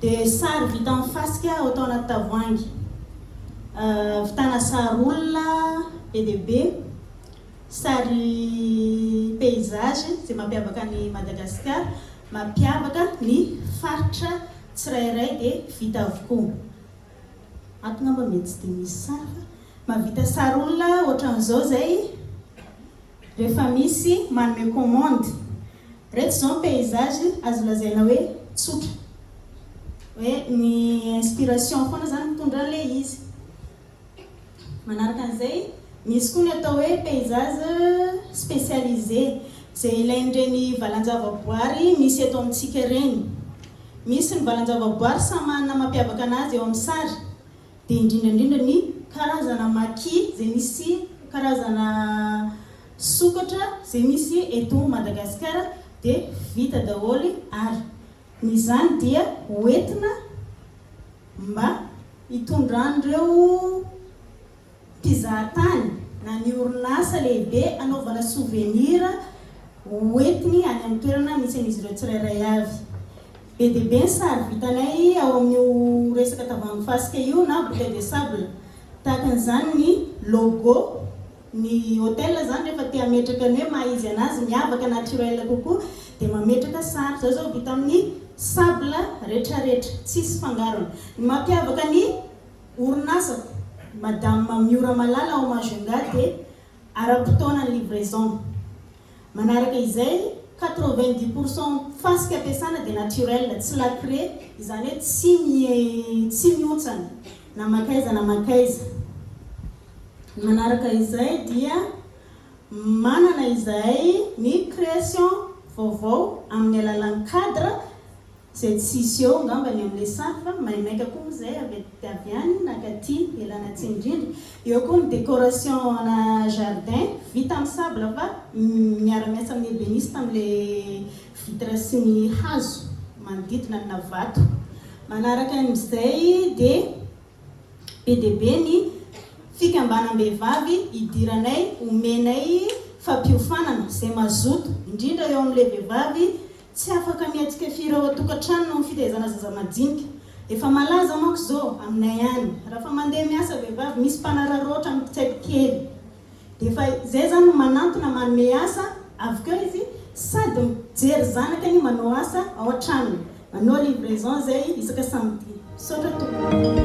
Dia sary vita amin'ny fasika atao anaty tavoahangy. Ahavitana sary olona be dia be, sary paysage izay mampiavaka an'i Madagasikara, mampiavaka ny faritra tsirairay dia vita avokoa. Ato angamba mety tsy dia misy sary fa mahavita sary olona ohatran'izao izay rehefa misy manome commande. Ireto izao ny paysage azo lazaina hoe tsotra. Hoe ny inspiration foana izany mitondra an'ilay izy. Manaraka an'izay, misy koa ny atao hoe paysage specialisé, izay ilain'ireny valan-javaboary misy eto amintsika ireny. Misy ny valan-javaboary samy manana mampiavaka anazy eo amin'ny sary. dia indrindra indrindra ny karazana maki izay misy karazana sokatra izay misy eto Madagasikara dia vita daholo ary ny izany dia hoentina mba hitondran'ireo mpizahatany na ny orinasa lehibe anaovana sovenira hoentiny any amin'ny toerana misy an'izy ireo tsirairay avy. Be dia be ny sary vitanay ao amin'io resaka tavoahangy fasika io na bouteille de sable. Tahaka an'izany ny logo ny hotel izany rehefa te hametraka ny hoe maha izy anazy miavaka naturel kokoa dia mametraka sary. Izaho izao vita amin'ny sable retraretra tsisy fangarony. Ny mampiavaka ny Orinasako, Madame Miora Malala ao Majunga dia ara-potoanan'ny livraison. Manaraka izay, quatre-vingt-dix pour cent fasika ampiasana dia naturel, tsy lacré, izany hoe tsy tsy mihontsana na makaiza na makaiza. Manaraka izay dia manana izahay ny création vaovao amin'ny alalan'ny cadre Zay tsisy eo ngamba ny amle sary fa maimaika koa moa zay avy aty avy any na katy elana atsimo indrindra. Eo koa ny decoration ana jardin vita amin'ny sable fa miara miasa amin'ny ebeniste amle vitre sy ny hazo manodidina ny na vato. Manaraka amzay dia be dia be ny fikambanam-behivavy idiranay omenay fampiofanana zay mazoto indrindra eo amle vehivavy Tsy afaka mihetsika firy ao an-tokantrano noho ny fitehezana zaza majinika. Efa malaza manko izao aminay any, raha fa mandeha miasa vehivavy misy mpanararaotra mitsaiky kely. Dia efa izay izany no manantona manome asa, avy keo izy sady mijery zanaka no manao asa ao an-tranony, manao livraison izay isaka samedi. Misaotra tompoko.